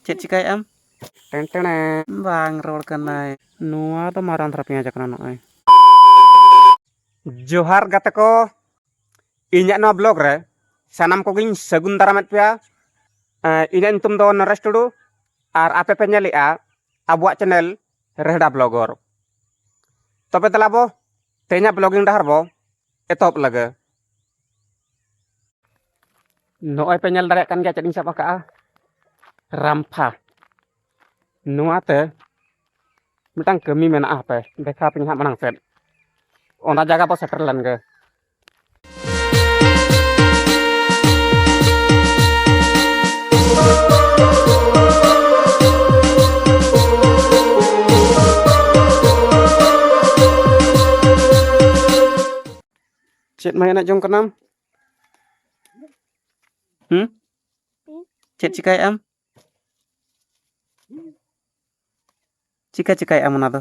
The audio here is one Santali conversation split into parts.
ᱪᱮᱫ ᱪᱤᱠᱟᱹᱭᱮᱫ ᱟᱢ ᱴᱮᱱ ᱴᱮᱱ ᱵᱟᱝ ᱨᱚᱲ ᱠᱟᱱᱟᱭ ᱱᱚᱣᱟ ᱫᱚ ᱢᱟᱨᱟᱝ ᱫᱷᱟᱨᱟ ᱯᱮᱸᱭᱟᱡᱽ ᱠᱟᱱᱟ ᱱᱚᱜᱼᱚᱭ ᱡᱚᱦᱟᱨ ᱜᱟᱛᱮ ᱠᱚ ᱤᱧᱟᱹᱜ ᱱᱚᱣᱟ ᱵᱞᱚᱜ ᱨᱮ ᱥᱟᱱᱟᱢ ᱠᱚᱜᱮᱧ ᱥᱟᱹᱜᱩᱱ ᱫᱟᱨᱟᱢᱮᱫ ᱯᱮᱭᱟ ᱤᱧᱟᱹᱜ ᱧᱩᱛᱩᱢ ᱫᱚ ᱱᱚᱨᱮᱥ ᱴᱩᱰᱩ ᱟᱨ ᱟᱯᱮ ᱯᱮ ᱧᱮᱞᱮᱜᱼᱟ ᱟᱵᱚᱣᱟᱜ ᱪᱮᱱᱮᱞ ᱨᱮᱦᱰᱟ ᱵᱞᱚᱜᱚᱨ ᱛᱚᱵᱮ ᱫᱮᱞᱟ ᱵᱚ ᱛᱮᱦᱮᱧᱟᱜ ᱵᱞᱚᱜᱤᱝ ᱰᱟᱦᱟᱨ ᱵᱚ ᱮᱛᱚᱦᱚᱵ ᱞᱟᱹᱜᱟᱹ ᱱᱚᱜᱼᱚᱭ ᱯᱮ ᱧᱮᱞ ᱫᱟᱲᱮᱭᱟᱜ ᱠᱟᱱ ᱜᱮᱭᱟ ᱪᱮᱫ ᱤᱧ ᱥᱟᱵ ᱟᱠᱟᱜᱼᱟ ᱨᱟᱢᱯᱷᱟ ᱱᱚᱣᱟᱛᱮ ᱢᱤᱫᱴᱟᱝ ᱠᱟᱹᱢᱤ ᱢᱮᱱᱟᱜᱼᱟ ᱦᱟᱯᱮ ᱫᱮᱠᱷᱟᱣ ᱯᱮ ᱦᱟᱸᱜ ᱢᱟᱲᱟᱝ ᱥᱮᱫ ᱚᱱᱟ ᱡᱟᱭᱜᱟ ᱵᱚ ᱥᱮᱴᱮᱨ ᱞᱮᱱᱜᱮ ᱪᱮᱫ ᱢᱟ ᱮᱱᱮᱡ ᱡᱚᱝ ᱠᱟᱱᱟᱢ ᱦᱩᱸ ᱪᱮᱫ ᱪᱤᱠᱟᱭ ᱟᱢ ᱪᱤᱠᱟ ᱪᱤᱠᱟᱭ ᱟᱢ ᱚᱱᱟ ᱫᱚ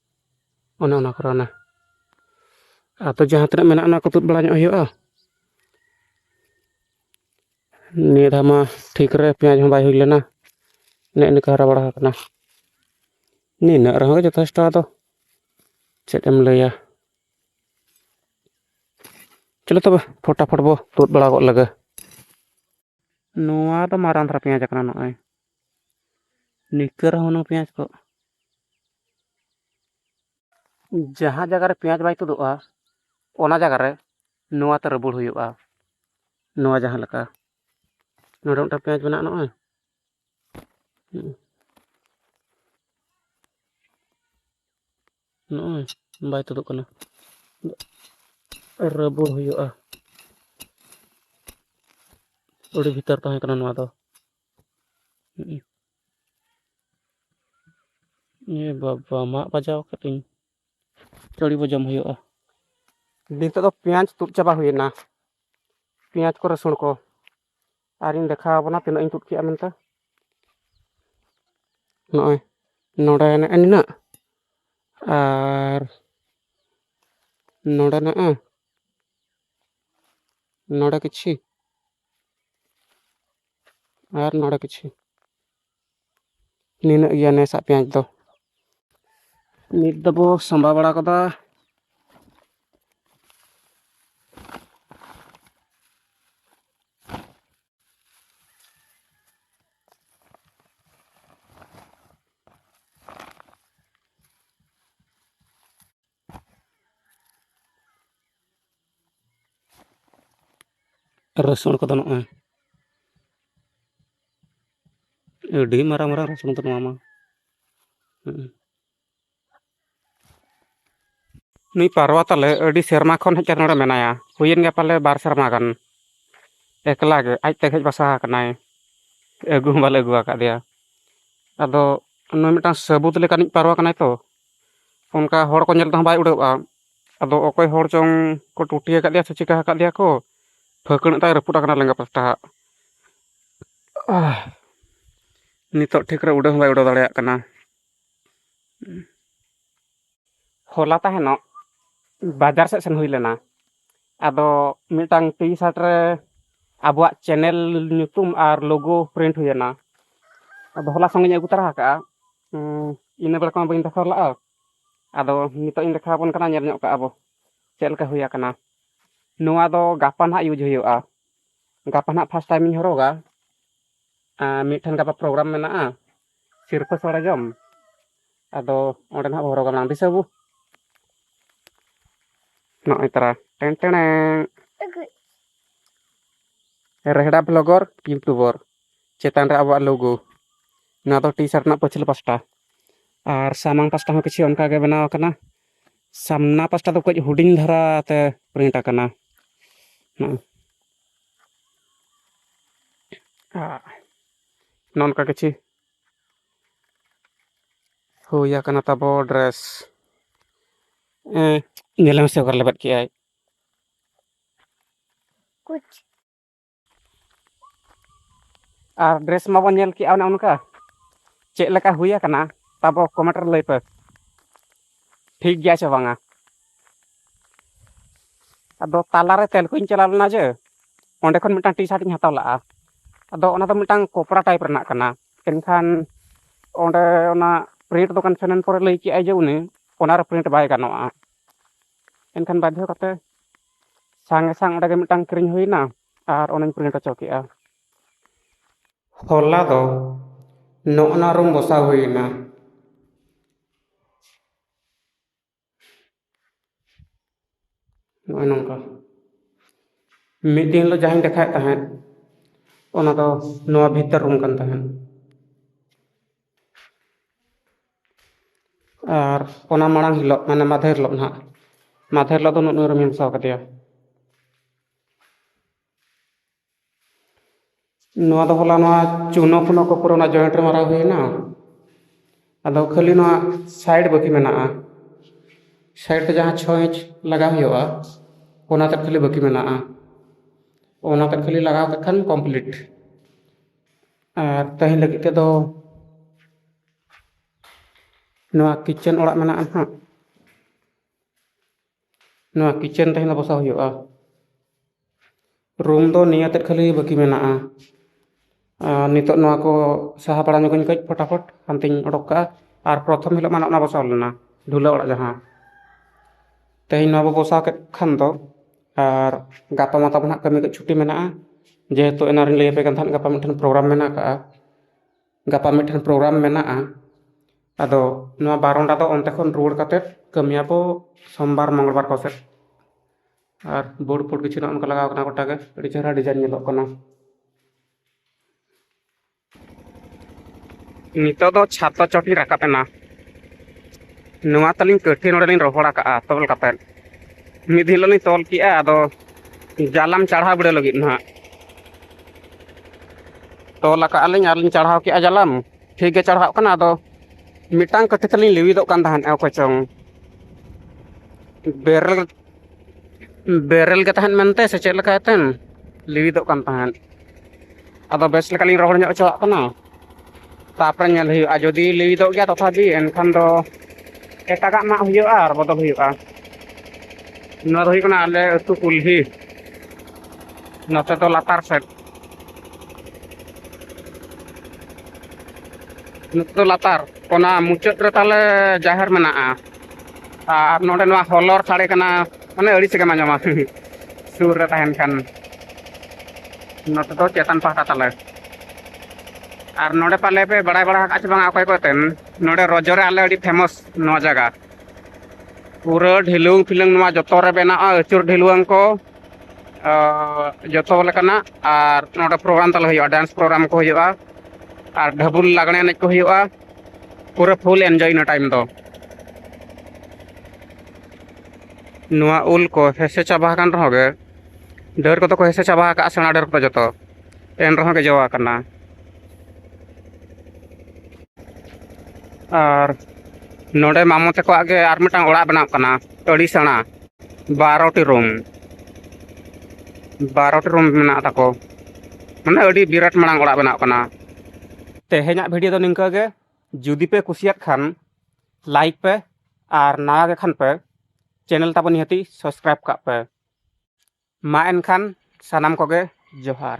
ᱚᱱᱮ ᱚᱱᱟ ᱠᱚᱨᱮ ᱚᱱᱮ ᱟᱫᱚ ᱡᱟᱦᱟᱸ ᱛᱤᱱᱟᱹᱜ ᱢᱮᱱᱟᱜᱼᱟ ᱚᱱᱟ ᱠᱚ ᱛᱩᱫ ᱵᱟᱲᱟ ᱧᱚᱜ ᱦᱩᱭᱩᱜᱼᱟ ᱱᱤᱭᱟᱹ ᱫᱷᱟᱣ ᱢᱟ ᱴᱷᱤᱠ ᱨᱮ ᱯᱮᱸᱭᱟᱡᱽ ᱦᱚᱸ ᱵᱟᱭ ᱦᱩᱭ ᱞᱮᱱᱟ ᱱᱮᱜ ᱱᱤᱠᱟᱹ ᱦᱟᱨᱟ ᱵᱟᱲᱟ ᱟᱠᱟᱱᱟ ᱱᱤᱱᱟᱹᱜ ᱨᱮᱦᱚᱸ ᱜᱮ ᱡᱚᱛᱷᱮᱥᱴᱚ ᱟᱫᱚ ᱪᱮᱫ ᱮᱢ ᱞᱟᱹᱭᱟ ᱪᱚᱞᱚ ᱛᱚᱵᱮ ᱯᱷᱚᱴᱟᱯᱷᱚᱴ ᱵᱚ ᱛᱩᱫ ᱵᱟᱲᱟ ᱜᱚᱫ ᱞᱮᱜᱮ ᱱᱚᱣᱟ ᱫᱚ ᱢᱟᱨᱟᱝ ᱫᱷᱟᱨᱟ ᱯᱮᱸᱭᱟᱡᱽ ᱠᱟᱱᱟ ᱱᱚᱜᱼᱚᱭ ᱱᱤᱝᱠᱟᱹ ᱨᱮᱦᱚᱸ ᱦᱩᱱᱟᱹᱝ ᱯᱮᱸᱭᱟᱡᱽ ᱠᱚ ᱡᱟᱦᱟᱸ ᱡᱟᱭᱜᱟ ᱨᱮ ᱯᱮᱸᱭᱟᱡᱽ ᱵᱟᱭ ᱛᱩᱫᱩᱜᱼᱟ ᱚᱱᱟ ᱡᱟᱭᱜᱟ ᱨᱮ ᱱᱚᱣᱟ ᱛᱮ ᱨᱟᱹᱵᱩᱲ ᱦᱩᱭᱩᱜᱼᱟ ᱱᱚᱣᱟ ᱡᱟᱦᱟᱸ ᱞᱮᱠᱟ ᱱᱚᱰᱮ ᱢᱤᱫᱴᱟᱝ ᱯᱮᱸᱭᱟᱡᱽ ᱢᱮᱱᱟᱜᱼᱟ ᱱᱚᱜᱼᱚᱭ ᱱᱚᱜᱼᱚᱭ ᱵᱟᱭ ᱛᱩᱫᱩᱜ ᱠᱟᱱᱟ ᱨᱟᱹᱵᱩᱲ ᱦᱩᱭᱩᱜᱼᱟ ᱟᱹᱰᱤ ᱵᱷᱤᱛᱟᱹᱨ ᱛᱟᱦᱮᱸ ᱠᱟᱱᱟ ᱱᱚᱣᱟ ᱫᱚ ᱮ ᱵᱟᱵᱟ ᱢᱟᱜ ᱵᱟᱡᱟᱣ ᱠᱟᱹᱫᱟᱹᱧ ᱪᱟᱹᱲᱤ ᱵᱚᱡᱚᱢ ᱦᱩᱭᱩᱜᱼᱟ ᱱᱤᱛᱚᱜ ᱫᱚ ᱯᱮᱸᱭᱟᱡᱽ ᱛᱩᱫ ᱪᱟᱵᱟ ᱦᱩᱭᱮᱱᱟ ᱯᱮᱸᱭᱟᱡᱽ ᱠᱚ ᱨᱟᱹᱥᱩᱱ ᱠᱚ ᱟᱨᱤᱧ ᱫᱮᱠᱷᱟᱣ ᱟᱵᱚᱱᱟ ᱛᱤᱱᱟᱹᱜ ᱤᱧ ᱛᱩᱫ ᱠᱮᱜᱼᱟ ᱢᱮᱱᱛᱮ ᱱᱚᱜᱼᱚᱭ ᱱᱚᱰᱮ ᱱᱮᱜᱼᱮ ᱱᱤᱱᱟᱹᱜ ᱟᱨ ᱱᱚᱰᱮ ᱱᱮᱜᱼᱮ ᱱᱚᱰᱮ ᱠᱤᱪᱷᱤ ᱟᱨ ᱱᱚᱰᱮ ᱠᱤᱪᱷᱩ ᱱᱤᱱᱟᱹᱜ ᱜᱮᱭᱟ ᱱᱮᱥᱟᱜ ᱯᱮᱸᱭᱟᱡᱽ ᱫᱚ ᱱᱤᱛ ᱫᱚᱵᱚ ᱥᱟᱢᱵᱟᱣ ᱵᱟᱲᱟ ᱠᱟᱫᱟ ᱨᱟᱹᱥᱩᱱ ᱠᱚᱫᱚ ᱱᱚᱜᱼᱚᱭ ᱟᱹᱰᱤ ᱢᱟᱨᱟᱝ ᱢᱟᱨᱟᱝ ᱨᱟᱹᱥᱩᱱ ᱫᱚ ᱱᱚᱣᱟ ᱢᱟ ᱱᱩᱭ ᱯᱟᱨᱣᱟ ᱛᱟᱞᱮ ᱟᱹᱰᱤ ᱥᱮᱨᱢᱟ ᱠᱷᱚᱱ ᱦᱮᱡ ᱠᱟᱛᱮ ᱱᱚᱰᱮ ᱢᱮᱱᱟᱭᱟ ᱦᱩᱭᱮᱱ ᱜᱮᱭᱟ ᱯᱟᱞᱮ ᱵᱟᱨ ᱥᱮᱨᱢᱟ ᱜᱟᱱ ᱮᱠᱞᱟ ᱜᱮ ᱟᱡ ᱛᱮᱜᱮ ᱦᱮᱡ ᱵᱟᱥᱟ ᱟᱠᱟᱱᱟᱭ ᱟᱹᱜᱩ ᱦᱚᱸ ᱵᱟᱞᱮ ᱟᱹᱜᱩ ᱟᱠᱟᱫᱮᱭᱟ ᱟᱫᱚ ᱱᱩᱭ ᱢᱤᱫᱴᱟᱝ ᱥᱟᱹᱵᱩᱫ ᱞᱮᱠᱟᱱᱤᱡ ᱯᱟᱨᱣᱟ ᱠᱟᱱᱟᱭ ᱛᱚ ᱚᱱᱠᱟ ᱦᱚᱲ ᱠᱚ ᱧᱮᱞ ᱛᱮᱦᱚᱸ ᱵᱟᱭ ᱩᱰᱟᱹᱜᱼᱟ ᱟᱫᱚ ᱚᱠᱚᱭ ᱦᱚᱲ ᱪᱚᱝ ᱠᱚ ᱴᱩᱴᱤ ᱟᱠᱟᱫ ᱫᱮᱭᱟ ᱥᱮ ᱪᱤᱠᱟᱹ ᱟᱠᱟᱫ ᱫᱮᱭᱟ ᱠᱚ ᱯᱷᱟᱹᱠᱬᱟᱹᱜ ᱛᱟᱭ ᱨᱟᱹᱯᱩᱫ ᱟᱠᱟᱱᱟ ᱞᱮᱸᱜᱟ ᱯᱟᱥᱴᱟ ᱟᱜ ᱱᱤᱛᱚᱜ ᱴᱷᱤᱠ ᱨᱮ ᱩᱰᱟᱹᱣ ᱦᱚᱸ ᱵᱟᱭ ᱩᱰᱟᱹᱣ ᱫᱟᱲᱮᱭᱟᱜ ᱠᱟᱱᱟ ᱦᱚᱞᱟ ᱛᱟᱦᱮᱱᱚᱜ ᱵᱟᱡᱟᱨ ᱥᱮᱫ ᱥᱮᱱ ᱦᱩᱭ ᱞᱮᱱᱟ ᱟᱫᱚ ᱢᱤᱫᱴᱟᱝ ᱴᱤ ᱥᱟᱨᱴ ᱨᱮ ᱟᱵᱚᱣᱟᱜ ᱪᱮᱱᱮᱞ ᱧᱩᱛᱩᱢ ᱟᱨ ᱞᱳᱜᱳ ᱯᱨᱤᱱᱴ ᱦᱩᱭᱮᱱᱟ ᱟᱫᱚ ᱦᱚᱞᱟ ᱥᱚᱸᱜᱮᱧ ᱟᱹᱜᱩ ᱛᱚᱨᱟ ᱟᱠᱟᱫᱼᱟ ᱦᱩᱸ ᱤᱱᱟᱹ ᱵᱟᱲᱟ ᱠᱚᱢᱟ ᱵᱟᱹᱧ ᱫᱮᱠᱷᱟᱣ ᱞᱟᱜᱼᱟ ᱟᱫᱚ ᱱᱤᱛᱚᱜ ᱤᱧ ᱫᱮᱠᱷᱟᱣ ᱟᱵᱚᱱ ᱠᱟᱱᱟ ᱧᱮᱞ ᱧᱚᱜ ᱠᱟᱜᱼᱟ ᱵᱚ ᱪᱮᱫ ᱞᱮᱠᱟ ᱦᱩᱭ ᱟᱠᱟᱱᱟ ᱱᱚᱣᱟ ᱫᱚ ᱜᱟᱯᱟ ᱱᱟᱦᱟᱜ ᱤᱭᱩᱡᱽ ᱦᱩᱭᱩᱜᱼᱟ ᱜᱟᱯᱟ ᱱᱟᱦᱟᱜ ᱯᱷᱟᱥᱴ ᱴᱟᱭᱤᱢ ᱤᱧ ᱦᱚᱨᱚᱜᱟ ᱟᱨ ᱢᱤᱫᱴᱷᱮᱱ ᱜᱟᱯᱟ ᱯᱨᱳᱜᱨᱟᱢ ᱢᱮᱱᱟᱜᱼᱟ ᱥᱤᱨᱯᱟᱹ ᱥᱚᱲᱮ ᱡᱚᱢ ᱟᱫᱚ ᱚᱸᱰᱮ ᱱᱟᱦᱟᱜ ᱵᱚ ᱦᱚᱨᱚᱜᱟ ᱵᱟᱝ ᱫᱤᱥᱟᱹ ᱵᱚ ᱱᱚᱜᱼᱚᱭ ᱛᱟᱨᱟ ᱴᱮᱱ ᱴᱮᱲᱮᱝ ᱨᱮᱦᱲᱟ ᱵᱞᱚᱜᱚᱨ ᱤᱭᱩᱴᱩᱵᱚᱨ ᱪᱮᱛᱟᱱ ᱨᱮ ᱟᱵᱚᱣᱟᱜ ᱞᱳᱜᱳ ᱱᱚᱣᱟ ᱫᱚ ᱴᱤ ᱥᱟᱨᱴ ᱨᱮᱱᱟᱜ ᱯᱟᱹᱪᱷᱞᱟᱹ ᱯᱟᱥᱴᱟ ᱟᱨ ᱥᱟᱢᱟᱝ ᱯᱟᱥᱴᱟ ᱦᱚᱸ ᱠᱤᱪᱷᱩ ᱚᱱᱠᱟ ᱜᱮ ᱵᱮᱱᱟᱣ ᱟᱠᱟᱱᱟ ᱥᱟᱢᱱᱟ ᱯᱟᱥᱴᱟ ᱫᱚ ᱠᱟᱹᱡ ᱦᱩᱰᱤᱧ ᱫᱷᱟᱨᱟ ᱛᱮ ᱯᱨᱤᱱᱴ ᱟᱠᱟᱱᱟ ᱱᱚᱝᱠᱟ ᱠᱤᱪᱷᱩ ᱦᱩᱭ ᱟᱠᱟᱱᱟ ᱛᱟᱵᱚ ᱰᱨᱮᱥ ᱧᱮᱞᱮ ᱢᱮᱥᱮ ᱚᱠᱟᱨᱮ ᱞᱮᱵᱮᱫ ᱠᱮᱜᱼᱟᱭ ᱟᱨ ᱰᱨᱮᱥ ᱢᱟᱵᱚᱱ ᱧᱮᱞ ᱠᱮᱜᱼᱟ ᱚᱱᱮ ᱚᱱᱠᱟ ᱪᱮᱫ ᱞᱮᱠᱟ ᱦᱩᱭ ᱟᱠᱟᱱᱟ ᱛᱟᱵᱚ ᱠᱚᱢᱮᱱᱴ ᱨᱮ ᱞᱟᱹᱭ ᱯᱮ ᱴᱷᱤᱠ ᱜᱮᱭᱟ ᱥᱮ ᱵᱟᱝᱟ ᱟᱫᱚ ᱛᱟᱞᱟᱨᱮ ᱛᱮᱞᱠᱩᱧ ᱪᱟᱞᱟᱣ ᱞᱮᱱᱟ ᱡᱮ ᱚᱸᱰᱮ ᱠᱷᱚᱱ ᱢᱤᱫᱴᱟᱝ ᱴᱤ ᱥᱟᱨᱴ ᱤᱧ ᱦᱟᱛᱟᱣ ᱞᱟᱜᱼᱟ ᱟᱫᱚ ᱚᱱᱟ ᱫᱚ ᱢᱤᱫᱴᱟᱝ ᱠᱚᱯᱲᱟ ᱴᱟᱭᱤᱯ ᱨᱮᱱᱟᱜ ᱠᱟᱱᱟ ᱮᱱᱠᱷᱟᱱ ᱚᱸᱰᱮ ᱚᱱᱟ ᱯᱨᱤᱱᱴ ᱫᱚᱠᱟᱱ ᱥᱮᱱᱮᱱ ᱯᱚᱨᱮ ᱞᱟᱹᱭ ᱠᱮᱜᱼᱟᱭ ᱡᱮ ᱩᱱᱤ ᱚᱱᱟᱨᱮ ᱯᱨᱤᱱᱴ ᱵᱟᱭ ᱜᱟᱱᱚᱜᱼᱟ ᱮᱱᱠᱷᱟᱱ ᱵᱟᱫᱽᱫᱷᱚ ᱠᱟᱛᱮ ᱥᱟᱝᱜᱮ ᱥᱟᱝ ᱚᱸᱰᱮ ᱜᱮ ᱢᱤᱫᱴᱟᱝ ᱠᱤᱨᱤᱧ ᱦᱩᱭᱱᱟ ᱟᱨ ᱚᱱᱟᱧ ᱯᱨᱤᱱᱴ ᱦᱚᱪᱚ ᱠᱮᱫᱼᱟ ᱦᱚᱞᱟ ᱫᱚ ᱱᱚᱜᱼᱚ ᱱᱟ ᱨᱩᱢ ᱵᱚᱥᱟᱣ ᱦᱩᱭᱱᱟ ᱱᱚᱜᱼᱚᱭ ᱱᱚᱝᱠᱟ ᱢᱤᱫ ᱫᱤᱱ ᱦᱤᱞᱳᱜ ᱡᱟᱦᱟᱸᱧ ᱫᱮᱠᱷᱟᱣᱮᱫ ᱛᱟᱦᱮᱸᱫ ᱚᱱᱟ ᱫᱚ ᱱᱚᱣᱟ ᱵᱷᱤᱛᱟᱹᱨ ᱨᱩᱢ ᱠᱟᱱ ᱛᱟᱦᱮᱸᱫ ᱟᱨ ᱚᱱᱟ ᱢᱟᱲᱟᱝ ᱦᱤᱞᱳᱜ ᱢᱟᱱᱮ ᱢᱟᱫᱷᱮᱨ ᱦᱤᱞᱳᱜ ᱱᱟᱦᱟᱜ ᱢᱟᱫᱷᱮᱨ ᱦᱤᱞᱳᱜ ᱫᱚ ᱱᱩᱱᱟᱹᱜ ᱱᱩᱱᱟᱹᱜ ᱨᱮᱢ ᱢᱮᱥᱟ ᱠᱟᱫᱮᱭᱟ ᱱᱚᱣᱟ ᱫᱚ ᱦᱚᱞᱟ ᱱᱚᱣᱟ ᱪᱩᱱᱳ ᱯᱷᱩᱱᱳ ᱠᱚ ᱯᱩᱨᱟᱹ ᱚᱱᱟ ᱡᱚᱭᱮᱱᱴ ᱨᱮ ᱢᱟᱨᱟᱣ ᱦᱩᱭᱱᱟ ᱟᱫᱚ ᱠᱷᱟᱹᱞᱤ ᱱᱚᱣᱟ ᱥᱟᱭᱤᱰ ᱵᱟᱹᱠᱤ ᱢᱮᱱᱟᱜᱼᱟ ᱥᱟᱭᱤᱰ ᱛᱮ ᱡᱟᱦᱟᱸ ᱪᱷᱚ ᱤᱧᱪ ᱞᱟᱜᱟᱣ ᱦᱩᱭᱩᱜᱼᱟ ᱚᱱᱟ ᱛᱮᱫ ᱠᱷᱟᱹᱞᱤ ᱵᱟᱹᱠᱤ ᱢᱮᱱᱟᱜᱼᱟ ᱚᱱᱟ ᱛᱮᱫ ᱠᱷᱟᱹᱞᱤ ᱞᱟᱜᱟᱣ ᱠᱟᱜ ᱠᱷᱟᱱ ᱠᱚᱢᱯᱞᱤᱴ ᱟᱨ ᱛᱟᱦᱮᱸ ᱞᱟᱹᱜᱤᱫ ᱛᱮᱫᱚ ᱱᱚᱣᱟ ᱠᱤᱪᱮᱱ ᱚᱲᱟᱜ ᱢᱮᱱᱟᱜᱼᱟ ᱱᱟᱦᱟᱜ ᱱᱚᱣᱟ ᱠᱤᱪᱮᱱ ᱛᱟᱦᱮᱸ ᱫᱚ ᱵᱟᱥᱟ ᱦᱩᱭᱩᱜᱼᱟ ᱨᱩᱢ ᱫᱚ ᱱᱤᱭᱟᱹ ᱛᱮᱫ ᱠᱷᱟᱹᱞᱤ ᱵᱟᱹᱠᱤ ᱢᱮᱱᱟᱜᱼᱟ ᱟᱨ ᱱᱤᱛᱚᱜ ᱱᱚᱣᱟ ᱠᱚ ᱥᱟᱦᱟ ᱵᱟᱲᱟ ᱧᱚᱜᱟᱹᱧ ᱠᱟᱹᱡ ᱯᱷᱚᱴᱟᱯᱷᱚᱴ ᱦᱟᱱᱛᱮᱧ ᱚᱰᱚᱠ ᱠᱟᱜᱼᱟ ᱟᱨ ᱯᱨᱚᱛᱷᱚᱢ ᱦᱤᱞᱳᱜ ᱢᱟ ᱱᱚᱜᱼᱚ ᱱᱟ ᱵᱚᱥᱟᱣ ᱞᱮᱱᱟ ᱰᱷᱩᱞᱟᱹ ᱚᱲᱟᱜ ᱡᱟᱦᱟᱸ ᱛᱮᱦᱮᱧ ᱱᱚᱣᱟ ᱵᱚᱱ ᱵᱚᱥᱟᱣ ᱠᱮᱫ ᱠᱷᱟᱱ ᱫᱚ ᱟᱨ ᱜᱟᱯᱟ ᱢᱟ ᱛᱟᱵᱚᱱ ᱦᱟᱸᱜ ᱠᱟᱹᱢᱤ ᱠᱚ ᱪᱷᱩᱴᱤ ᱢᱮᱱᱟᱜᱼᱟ ᱡᱮᱦᱮᱛᱩ ᱮᱱᱟᱝ ᱨᱤᱧ ᱞᱟᱹᱭ ᱟᱯᱮ ᱠᱟᱱ ᱛᱟᱦᱮᱸᱫ ᱜᱟᱯᱟ ᱢᱤᱫᱴᱟᱝ ᱯᱨᱳᱜᱨᱟᱢ ᱢᱮᱱᱟᱜ ᱠᱟᱜᱼᱟ ᱜᱟᱯᱟ ᱢᱤᱫᱴᱟᱝ ᱯᱨᱳᱜᱨᱟᱢ ᱢᱮᱱᱟᱜᱼᱟ ᱟᱫᱚ ᱱᱚᱣᱟ ᱵᱟᱨᱚᱱᱰᱟ ᱫᱚ ᱚᱱᱛᱮ ᱠᱷᱚᱱ ᱨᱩᱣᱟᱹᱲ ᱠᱟᱛᱮᱫ ᱠᱟᱹᱢᱤᱭᱟ ᱵᱚ ᱥᱳᱢᱵᱟᱨ ᱢᱚᱝᱜᱚᱞ ᱵᱟᱨ ᱠᱚᱥᱮᱫ ᱟᱨ ᱵᱳᱨᱰ ᱯᱷᱳᱨᱰ ᱠᱤᱪᱷᱩ ᱱᱚᱜᱼᱚ ᱱᱚᱝᱠᱟ ᱞᱟᱜᱟᱣ ᱠᱟᱱᱟ ᱜᱳᱴᱟᱜᱮ ᱟᱹᱰᱤ ᱪᱮᱦᱨᱟ ᱰᱤᱡᱟᱭᱤᱱ ᱧᱮᱞᱚᱜ ᱠᱟᱱᱟ ᱱᱤᱛᱚᱜ ᱫᱚ ᱪᱷᱟᱛᱟ ᱪᱚᱴᱤᱧ ᱨᱟᱠᱟᱵ ᱮᱱᱟ ᱱᱚᱣᱟ ᱛᱟᱹᱞᱤᱧ ᱠᱟᱹᱴᱷᱤ ᱱᱚᱰᱮᱞᱤᱧ ᱨᱚᱦᱚᱲ ᱟᱠᱟᱜᱼᱟ ᱛᱚᱞ ᱠᱟᱛᱮᱫ ᱢᱤᱫ ᱦᱤᱞᱳᱜ ᱞᱤᱧ ᱛᱚᱞ ᱠᱮᱜᱼᱟ ᱟᱫᱚ ᱡᱟᱞᱟᱢ ᱪᱟᱲᱦᱟᱣ ᱵᱤᱰᱟᱹᱣ ᱞᱟᱹᱜᱤᱫ ᱱᱟᱦᱟᱜ ᱛᱚᱞ ᱟᱠᱟᱜᱼᱟ ᱞᱤᱧ ᱟᱨ ᱞᱤᱧ ᱪᱟᱲᱦᱟᱣ ᱠᱮᱜᱼᱟ ᱡᱟᱞᱟᱢ ᱴᱷᱤᱠ ᱜᱮ ᱪᱟᱲᱦᱟᱣ ᱠᱟᱱᱟ ᱟᱫᱚ ᱢᱤᱫᱴᱟᱝ ᱠᱟᱹᱴᱷᱤ ᱛᱟᱹᱞᱤᱧ ᱞᱤᱣᱤᱫᱚᱜ ᱠᱟᱱ ᱛᱟᱦᱮᱸᱫ ᱚᱠᱚᱭ ᱪᱚᱝ ᱵᱮᱨᱮᱞ ᱵᱮᱨᱮᱞ ᱜᱮ ᱛᱟᱦᱮᱱ ᱢᱮᱱᱛᱮ ᱥᱮ ᱪᱮᱫ ᱞᱮᱠᱟ ᱮᱛᱮᱱ ᱞᱤᱣᱤᱫᱚᱜ ᱠᱟᱱ ᱛᱟᱦᱮᱸᱫ ᱟᱫᱚ ᱵᱮᱥ ᱞᱮᱠᱟᱞᱤᱧ ᱨᱚᱦᱚᱲ ᱧᱚᱜ ᱦᱚᱪᱚᱣᱟᱜ ᱠᱟᱱᱟ ᱛᱟᱯᱚᱨᱮ ᱧᱮᱞ ᱦᱩᱭᱩᱜᱼᱟ ᱡᱩᱫᱤ ᱞᱟᱹᱵᱤᱫᱚᱜ ᱜᱮᱭᱟ ᱛᱚᱛᱷᱟᱯᱤ ᱮᱱᱠᱷᱟᱱ ᱫᱚ ᱮᱴᱟᱜᱟᱜ ᱢᱟᱜ ᱦᱩᱭᱩᱜᱼᱟ ᱟᱨ ᱵᱚᱫᱚᱞ ᱦᱩᱭᱩᱜᱼᱟ ᱱᱚᱣᱟ ᱫᱚ ᱦᱩᱭᱩᱜ ᱠᱟᱱᱟ ᱟᱞᱮ ᱟᱹᱛᱩ ᱠᱩᱞᱦᱤ ᱱᱚᱛᱮ ᱫᱚ ᱞᱟᱛᱟᱨ ᱥᱮᱫ ᱱᱚᱛᱮ ᱫᱚ ᱞᱟᱛᱟᱨ ᱚᱱᱟ ᱢᱩᱪᱟᱹᱫ ᱨᱮ ᱛᱟᱞᱮ ᱡᱟᱦᱮᱨ ᱢᱮᱱᱟᱜᱼᱟ ᱟᱨ ᱱᱚᱰᱮ ᱱᱚᱣᱟ ᱦᱚᱞᱚᱨ ᱥᱟᱰᱮ ᱠᱟᱱᱟ ᱢᱟᱱᱮ ᱟᱹᱲᱤᱥ ᱜᱮᱢ ᱟᱸᱡᱚᱢᱟ ᱥᱩᱨ ᱨᱮ ᱛᱟᱦᱮᱱ ᱠᱷᱟᱱ ᱱᱚᱛᱮ ᱫᱚ ᱪᱮᱛᱟᱱ ᱯᱟᱦᱴᱟ ᱛᱟᱞᱮ ᱟᱨ ᱱᱚᱰᱮ ᱯᱟᱞᱮ ᱯᱮ ᱵᱟᱲᱟᱭ ᱵᱟᱲᱟ ᱟᱠᱟᱫ ᱪᱮ ᱵᱟᱝ ᱚᱠᱚᱭ ᱠᱚ ᱛᱮᱱ ᱱᱚᱰᱮ ᱨᱚᱡᱚ ᱨᱮ ᱟᱞᱮ ᱟᱹᱰᱤ ᱯᱷᱮᱢᱚᱥ ᱱᱚᱣᱟ ᱡᱟᱭᱜᱟ ᱯᱩᱨᱟᱹ ᱰᱷᱤᱞᱩᱝ ᱯᱷᱤᱞᱩᱝ ᱱᱚᱣᱟ ᱡᱚᱛᱚ ᱨᱮ ᱵᱮᱱᱟᱜᱼᱟ ᱟᱹᱪᱩᱨ ᱰᱷᱤᱞᱩᱣᱟᱹᱝ ᱠᱚ ᱡᱚᱛᱚ ᱞᱮᱠᱟᱱᱟᱜ ᱟᱨ ᱱᱚᱰᱮ ᱯᱨᱳᱜᱨᱟᱢ ᱛᱟᱞᱮ ᱦᱩᱭᱩᱜᱼᱟ ᱰᱮᱱᱥ ᱯᱨᱳᱜᱨᱟᱢ ᱠᱚ ᱦᱩᱭᱩᱜᱼᱟ ᱟᱨ ᱰᱷᱟᱹᱵᱩᱞ ᱞᱟᱜᱽᱬᱮ ᱮᱱᱮᱡ ᱠᱚ ᱦᱩᱭᱩᱜᱼᱟ ᱯᱩᱨᱟᱹ ᱯᱷᱩᱞ ᱮᱱᱡᱚᱭ ᱤᱱᱟᱹ ᱴᱟᱭᱤᱢ ᱫᱚ ᱱᱚᱣᱟ ᱩᱞ ᱠᱚ ᱦᱮᱸᱥᱮ ᱪᱟᱵᱟ ᱟᱠᱟᱱ ᱨᱮᱦᱚᱸ ᱜᱮ ᱰᱟᱹᱨ ᱠᱚᱫᱚ ᱠᱚ ᱦᱮᱸᱥᱮ ᱪᱟᱵᱟ ᱟᱠᱟᱫᱼᱟ ᱥᱮᱬᱟ ᱰᱟᱹᱨ ᱠᱚᱫᱚ ᱡᱚᱛᱚ ᱮᱱ ᱨᱮᱦᱚᱸ ᱜᱮ ᱡᱚ ᱟᱠᱟᱱᱟ ᱟᱨ ᱱᱚᱰᱮ ᱢᱟᱢᱚ ᱛᱟᱠᱚᱣᱟᱜ ᱜᱮ ᱟᱨ ᱢᱤᱫᱴᱟᱝ ᱚᱲᱟᱜ ᱵᱮᱱᱟᱜ ᱠᱟᱱᱟ ᱟᱹᱰᱤ ᱥᱮᱬᱟ ᱵᱟᱨᱚᱴᱤ ᱨᱩᱢ ᱵᱟᱨᱚᱴᱤ ᱨᱩᱢ ᱢᱮᱱᱟᱜ ᱛᱟᱠᱚ ᱢᱟᱱᱮ ᱟᱹᱰᱤ ᱵᱤᱨᱟᱴ ᱢᱟᱲᱟᱝ ᱚᱲᱟᱜ ᱵᱮᱱᱟᱜ ᱠᱟᱱᱟ ᱛᱮᱦᱮᱧᱟᱜ ᱵᱷᱤᱰᱤᱭᱳ ᱫᱚ ᱱᱤᱝᱠᱟᱹ ᱜᱮ ᱡᱩᱫᱤ ᱯᱮ ᱠᱩᱥᱤᱭᱟᱜ ᱠᱷᱟᱱ ᱞᱟᱭᱤᱠ ᱯᱮ ᱟᱨ ᱱᱟᱣᱟ ᱜᱮ ᱠᱷᱟᱱ ᱯᱮ ᱪᱮᱱᱮᱞ ᱛᱟᱵᱚᱱ ᱱᱤᱦᱟᱹᱛᱤ ᱥᱟᱵᱥᱠᱨᱟᱭᱤᱵ ᱠᱟᱜ ᱯᱮ ᱢᱟ ᱮᱱᱠᱷᱟᱱ ᱥᱟᱱᱟᱢ ᱠᱚᱜᱮ ᱡᱚᱦᱟᱨ